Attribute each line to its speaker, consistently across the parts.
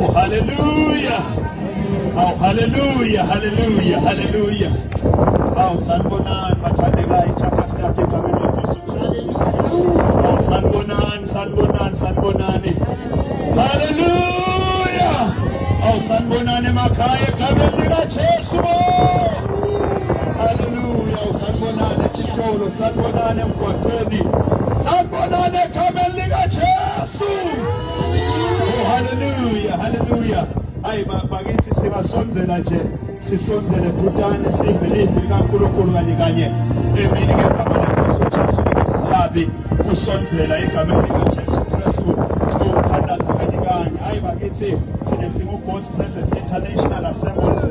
Speaker 1: Oh hallelujah. Oh hallelujah, hallelujah, hallelujah. Wow, sanibonani bathandekayo iChampions League egameni lenkosi uJesu. Wow, sanibonani, sanibonani, sanibonani. Hallelujah. Oh sanibonani emakhaya egameni likaJesu. Hallelujah, oh, sanibonani eTitolo, sanibonani emgwaqweni. Sanibonani egameni likaJesu. haleluya haleluya hayi bakithi sibasonzela nje sisonzele bhutane sive livi likaNkulunkulu kanye kanye emini ngegama lenkosi uJesu ngisabi kusonzela egameni likaJesu Kristu siyothandaza kanye kanye hayi bakithi thina singu God's Presence International Assemblies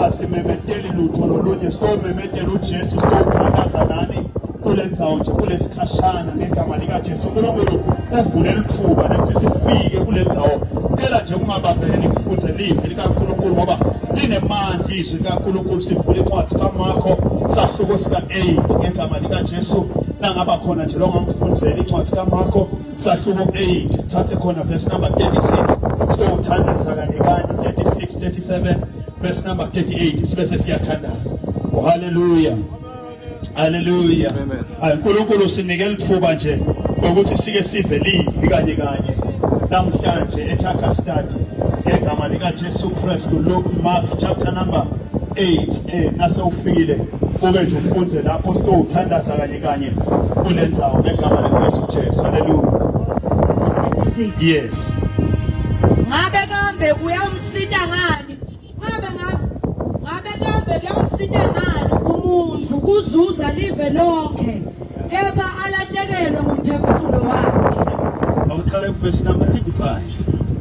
Speaker 1: asimemedeli lutho lolunye siyomemetela uJesu siyothandaza nani kule ndzawo nje kulesikhashana ngegama likajesu unkulunkulu uvule lithuba nekuthi sifike kule ndzawo cela nje kungabambele nikufunze livi likankulunkulu ngoba linemandla izwi likankulunkulu sivule incwadi kamakho sahluko sika-8 ngegama likajesu nangaba khona nje longamfunzela incwadi kamakho sahluko 8 sithathe khona verse number 36 sitowuthandaza kanye kanye 36 37 verse number 38 sibe sesiyathandaza ohaleluya oh, Hallelujah. Amen. Ay
Speaker 2: uNkulunkulu sinike
Speaker 1: lithuba nje ukuthi sike sive livi kanye kanye namhlanje eThaka study ngegama lika Jesu Christ Luke Mark chapter number 8 eh nase ufikile uke nje ufunde lapho sitowuthandaza kanye kanye kulenzawo ngegama likaJesu Jesu. Hallelujah. Yes. Ngabe
Speaker 3: kambe kuyamsita ngani Ngabe ngabe ngabe kambe kuyamsina ngani umuntu kuzuza live lonke kepha alahlekelwe ngumphefumulo wakhe. Awuqale ku
Speaker 1: verse number 35.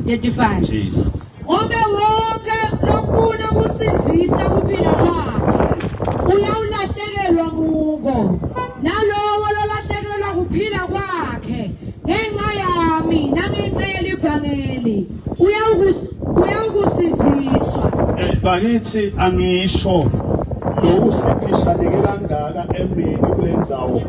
Speaker 1: 35. Jesus. Ngobe
Speaker 3: wonke lofuna ukusinzisa kuphila kwakhe uyawulahlekelwa kuko. Nalowo lolahlekelwa kuphila kwakhe ngenxa yami nami ngicela ivangeli. uyawukusinziswa eh, bakithi
Speaker 1: angisho lokusiphishaneke kangaka emini kulendzawo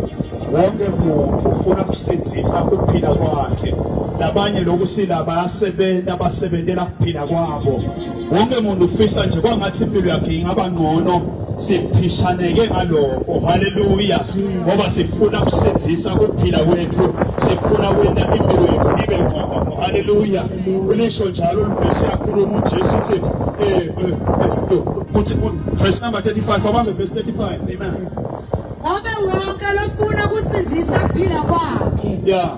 Speaker 1: wonke muntu ufuna kusinzisa ukuphila kwakhe labanye lokusila bayasebenza basebenzela ukuphila kwabo wonke muntu ufisa nje kwangathi impilo yakhe ingaba ngcono siphishaneke ngaloko haleluya ngoba sifuna kusenzisa kuphila kwethu sifuna kwenda impilo yethu ibe ngcono haleluya ulisho njalo ulivesi yakhuluma uJesu uthi eh, eh, eh, eh kuthi verse number 35 abambe verse 35 amen Ngobe
Speaker 3: wonke lofuna kusindisa kuphila kwakhe. Yeah.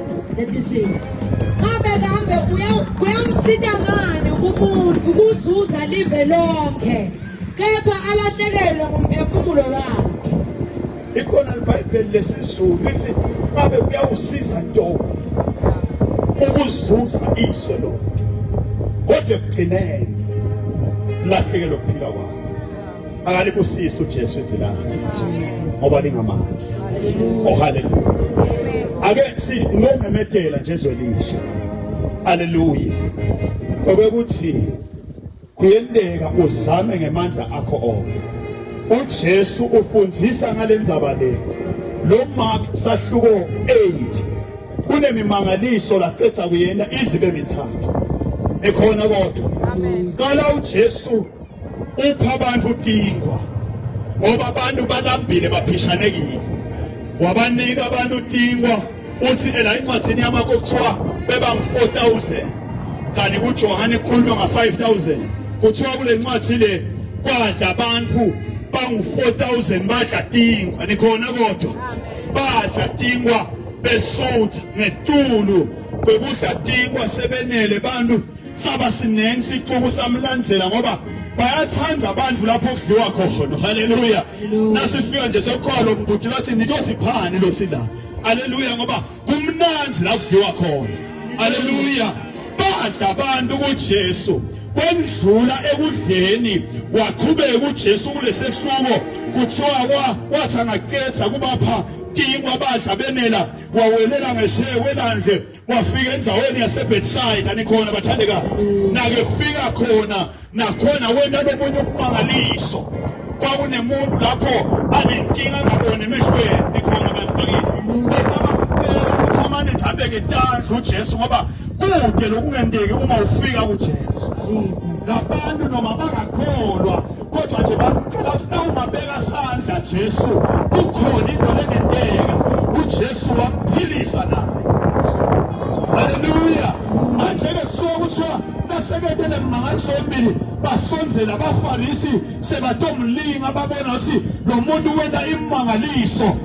Speaker 1: 36 ngabe
Speaker 3: kambe kuyamsita ngani umuntu kuzuza live lonke kepha alahlekelwe ngumphefumulo wakhe ikhona
Speaker 1: libhayibheli lesizulu lithi babe kuyawusiza ntoba ukuzuza izwe lonke kodwa ekugcineni lahlekelwe ukuphila kwakho akalibusise uJesu izwi lakhe ngoba lingamandla oh haleluya ake sinomemedela nje izwe lisha haleluya kwekuthi kuyendeka uzame ngemandla akho onke uJesu ufundisa ngalenzaba le lo Mark sahluko 8 kunemimangaliso laqetha kuyena izibe mithathu ekhona kodwa amen qala uJesu ukho abantu utingwa ngoba abantu balambile baphishanekile wabanika abantu utingwa uthi ela incwadzini yamakho kuthiwa beba ngu-4000 kanti kujohane kukhulunywa nga-5000 kuthiwa kule ncwadi le kwadla abantu bangu-4000 badla tingwa nikhona kodwa badla tingwa besutha ngetulu kwekudla tingwa sebenele bantu saba siningi sixuku samlandzela ngoba bayathanda abantu lapho kudliwa khona haleluya nasifika nje sokholo mbhuti lathi nitosiphani lo sila haleluya ngoba kumnandi la kudliwa khona haleluya badla abantu kuJesu kwendlula ekudleni waqhubeka uJesu kulesehluko kuthiwa wathi angaqeda kubapha tingwa badla benela wawelela ngeshewe landle wafika endzaweni yaseBethsaida nikhona bathandeka nakefika khona nakhona wena lomunye umangaliso kwakunemuntu lapho anenkinga ngabona emehlweni nikhona kanti bakithi bekabamcela ukuthi amane nje abeke tandla uJesu ngoba kude lokungenteki uma ufika kuJesu labantu noma bangakholwa kodwa nje bamcela ukuthi nawumabeka sandla Jesu kukhona into lengenteka uJesu wamphilisa naye haleluya manje ke kusuka kuthiwa naseketele mangaliso embili basonzela abafarisi sebatomlinga babona ukuthi lo muntu wena imangaliso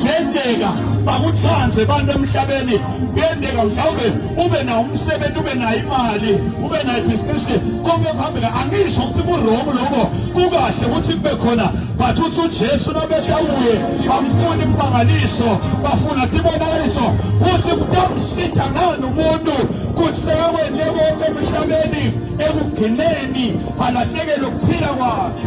Speaker 1: kuyendeka bakuthande abantu emhlabeni kuyendeka mhlawumbe ube nawo umsebenzi ube nayo imali ube nayo ibhizinisi konke kuhambeka angisho ukuthi kurongo lokho kukahle ukuthi kube khona but uthi ujesu nobetawuye bamfuna impangaliso bafuna tibonakaliso uthi kutamsida ngani umuntu kuthi sekakwende konke emhlabeni ekugcineni alahlekelwe ukuphila kwakhe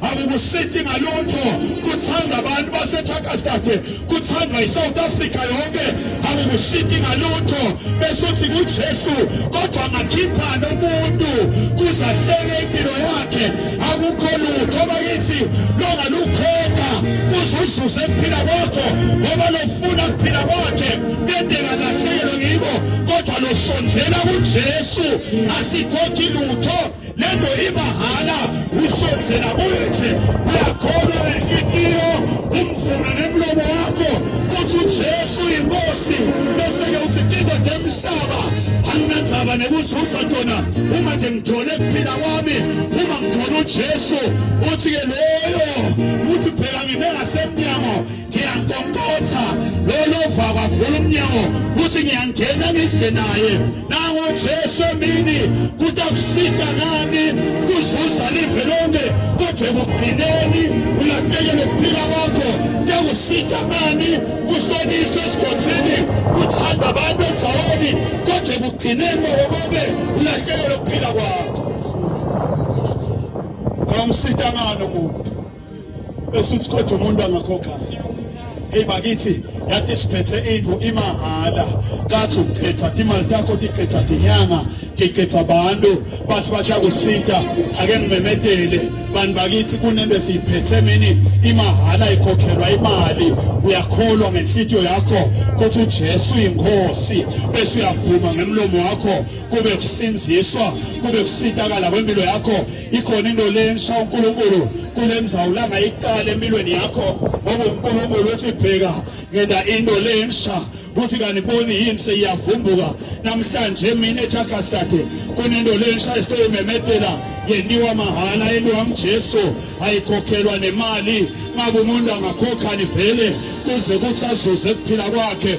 Speaker 1: akukusithi ngalutho kuthanda abantu baseChakastad kuthandwa iSouth Africa yonke akukusithi ngalutho bese uthi kuJesu kodwa ngakhipha nomuntu kuzahleke impilo yakhe akukho lutho bakithi longalukhokha kuzuzuze kuphila kwakho ngoba lofuna kuphila kwakhe bendeka lahlelo ngiko kodwa losonzela kuJesu asikhokhi lutho lento ibahala usonzela kuye nje uyakholwa ngenhlikiyo umvuma nemlomo wakho kuthi ujesu yinkosi bese-ke uthi kindoda emhlaba anginandzaba nekuzuza tona uma nje ngithole kuphila kwami uma ngithole ujesu uthi-ke loyo uthi phela ngime ngasemnyango ngiyankonkotha lolo vava vula umnyango kuthi ngiyangena ngidle naye nango Jesu emini kuthi akusika ngani kuzuza live lonke kodwa ekugcineni ulahlekele ukuphila kwakho kuyakusika ngani kuhlonishwe esigodini kuthanda abantu endaweni kodwa ekugcineni mawokoke ulahlekele ukuphila kwakho awumsika ngani umuntu esuthi kodwa umuntu angakhokha Hey bakithi yathi siphethe indlu imahhala kathi uqhethwa imali takho tiqhethwa tinyanga tiqhethwa abantu bathi batya kusita ake ngimemedele bantu bakithi kunento esiyiphethe mini imahhala ikhokhelwa imali uyakholwa ngenhlitiyo yakho kuthi uJesu inkosi bese uyavuma ngemlomo wakho kube kusinziswa kube kusitakala kwempilo yakho ikhona into lensha uNkulunkulu kulenzawo la ngayiqala empilweni yakho ngoba uNkulunkulu uthi bheka ngenda into lensha uthi kaniboni yini seyiyavumbuka namhlanje mina eJagastade kunento lensha esitoyimemethela yeniwa mahhala yeniwa mjesu ayikhokhelwa nemali ngabe umuntu angakhokha nivele kuze kuthi azuze kuphila kwakhe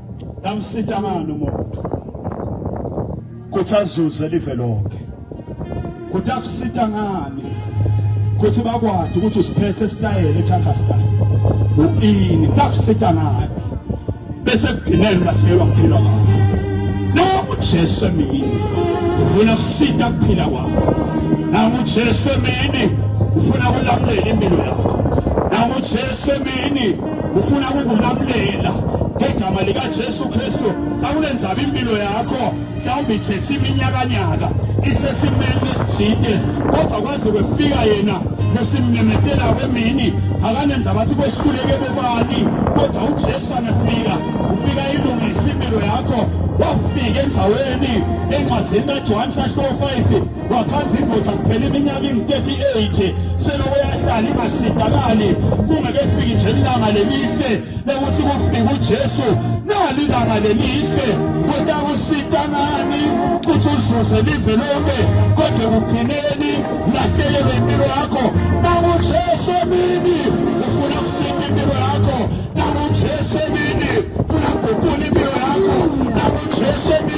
Speaker 1: Namsita ngani umuntu kuthi azuze live lonke kuthi akusita ngani kuthi bakwazi ukuthi usiphethe esitayele eChakastad uini takusita ngani bese kugcinela ulahlelwa kuphila kwakho noma uJesu emini ufuna kusita kuphila kwakho noma uJesu emini ufuna kulamulela impilo yakho noma uJesu emini ufuna ukukulamulela ngegama likaJesu Kristu akulenzaba impilo yakho mhlawumbe ithethe iminyakanyaka isesimeni esijide kodwa kwaze kwefika yena besimmemetela kwemini akanenza bathi kwehluleke bobani kodwa uJesu anefika ufika ilungisa impilo yakho wafika endaweni encwadzini kaJohane sahluko 5 wakhanza indoda kuphela iminyaka ingu-38 selokhu yahlala ingasidakali kungekefiki nje ilanga lelihle lokuthi kufike ujesu nali ilanga lelihle kodwa kusita ngani kuthi uzuze live lonke kodwa ekugcineni lahlelelwe impilo yakho nangujesu emini ufuna kusita impilo yakho nangujesu emini ufuna kuguqula impilo yakho nangujesu emini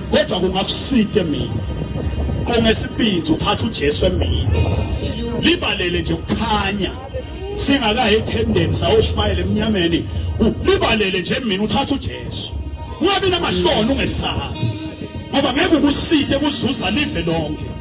Speaker 1: kodwa kungakusike mina qongesibindi uthatha uJesu emini libalele nje ukukhanya singakayi ethendeni sawushumayela emnyameni libalele nje mina uthatha uJesu ungabi namahloni ungesabi ngoba ngeke ukuside kuzuza live lonke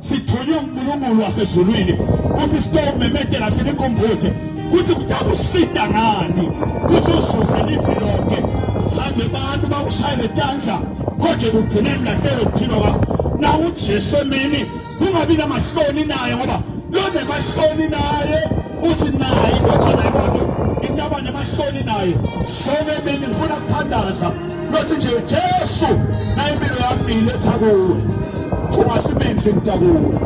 Speaker 1: sithunywe uNkulunkulu wasezulwini kuthi sitomemedela sinikhumbuthe kuthi kuthatha usida ngani kuthi uzuze lifi lonke uthande abantu bakushaye betandla kodwa ekugcineni lahlelo kuthina kwakho na uJesu emini kungabi namahloni naye ngoba lonemahloni naye uthi naye indodana yomuntu into abanemahloni naye sonke emini ngifuna kuthandaza Bathi nje Jesu nayimpilo yami letha kuwe. Ungasibinzi mntakuwe.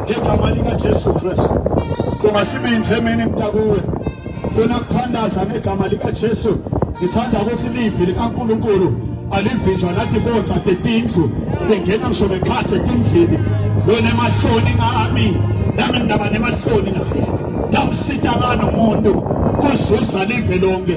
Speaker 1: Ngegama lika Jesu Kristu. Ungasibinzi emini mntakuwe. Funa ukuthandaza ngegama lika Jesu. Ngithanda ukuthi livi likaNkuluNkulu alivinjwa nathi bonza tetindlu bengena ngisho bekhathe etindlini wena emahloni ngami nami ngaba nemahloni naye ngamsita ngani umuntu kuzuza live lonke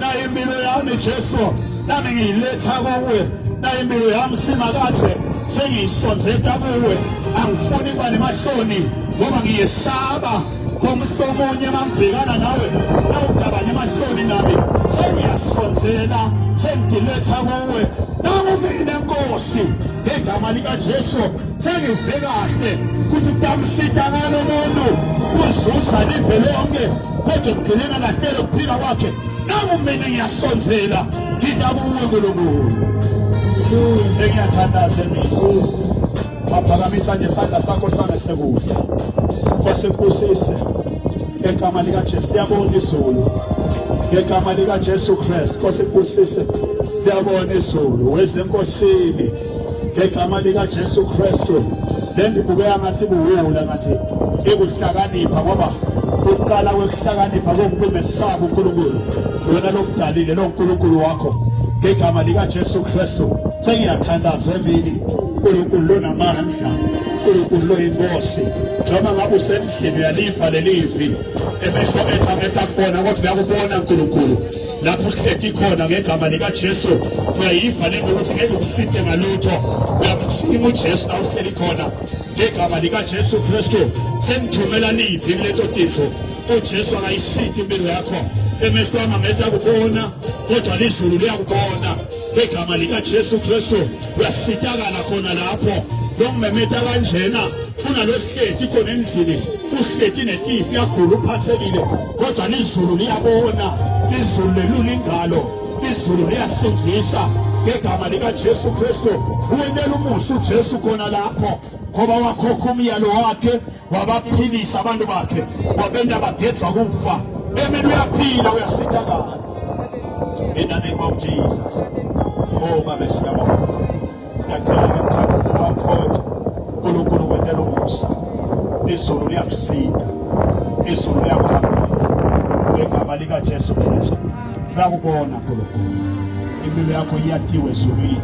Speaker 1: nayo impilo yami Jesu nami ngiyiletha kuwe nayo impilo yami simakathe sengiyisonzeta kuwe angifuni kuba nemahloni ngoba ngiyesaba komhlo omunye mangibhekana nawe nawugaba nemahloni nami sengiyasonzela sengiletha kuwe nangu mina nkosi ngegama likajesu sengive kahle ukuthi utamsita ngalo muntu kuzuza live lonke kodwa ekugcineni alahlele ukuphila kwakhe nami mina ngiyasonzela ngida kuwe nkulunkulu engiyathandaza emihla waphakamisa nje isandla sakho sangesekudla kwasekubusise ngegama likajesu liyabona izulu ngegama likajesu kristu kwasekubusise liyabona izulu wezenkosini ngegama likaJesu Kristu lendibukeka ngathi buwula ngathi ikuhlakanipha ngoba ukuqala kwekuhlakanipha komuntu omesaba uNkulunkulu wena lokudalile lo nkulunkulu wakho ngegama likaJesu Kristu sengiyathandaza emini uNkulunkulu lonamandla uNkulunkulu loyinkosi noma ngabe usendlini uyalifa lelivi emehlo ethu amehla kubona kodwa uyakubona uNkulunkulu lapho uhlethi khona ngegama likaJesu uyayiva lento ukuthi ngeke ukusinte ngalutho uyakusinga uJesu la uhleli khona ngegama likaJesu Kristu sengithumela livi kuleto titho uJesu akayisiki impilo yakho emehlo ami angeke akubona kodwa lizulu liyakubona ngegama likaJesu Kristu uyasitakala khona lapho longimemeta kanjena kunalohleti khona endlini uhleti netifi yagula uphathekile kodwa lizulu liyabona izulu lelula ingalo izulu liyasinzisa ngegama likajesu kristu uwentela umusa ujesu khona lapho ngoba wakhokha umyalo wakhe wabaphilisa abantu bakhe wabenta bagejwa kufa emini uyaphila uyasitakala in the name of jesus oh babe siyabonga Ngiyacela ngiyamthandazela wamfowethu uNkulunkulu kwentela umusa izulu liyakusinda izulu liyakuhambela ngegama likaJesu Kristu nakubona Nkulunkulu impilo yakho iyatiwe ezulwini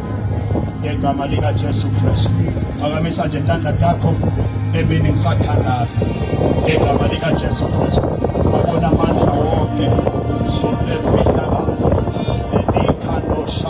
Speaker 1: ngegama likaJesu Kristu phakamisa nje intanda yakho emini ngisathandaza ngegama likaJesu Kristu wabona amandla wonke zulu lefihlakalo elikhanosha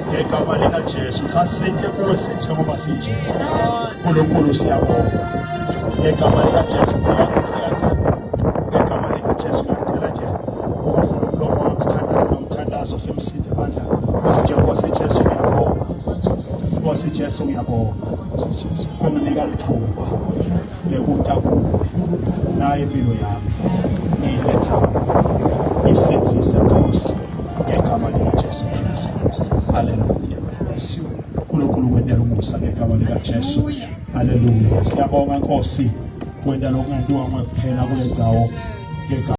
Speaker 1: ngegama likaJesu sasinte kuwe senjengoba sinje uNkulunkulu siyabonga ngegama likaJesu ngiyakuzela ngegama likaJesu ngicela nje ukuvula umlomo wami sithandaze nomthandazo simsinde bandla ukuthi nje Nkosi Jesu ngiyabonga Nkosi Jesu ngiyabonga kunginika lithuba lekuta kuwe naye impilo yami ngiyiletha isenzisa Nkosi ngegama likaJesu Kristu. Haleluya. Basiwe uNkulunkulu wenda lomusa ngegama likaJesu. Haleluya. Siyabonga Nkosi wenda lokungentiwa kuphela kule ndawo ngegama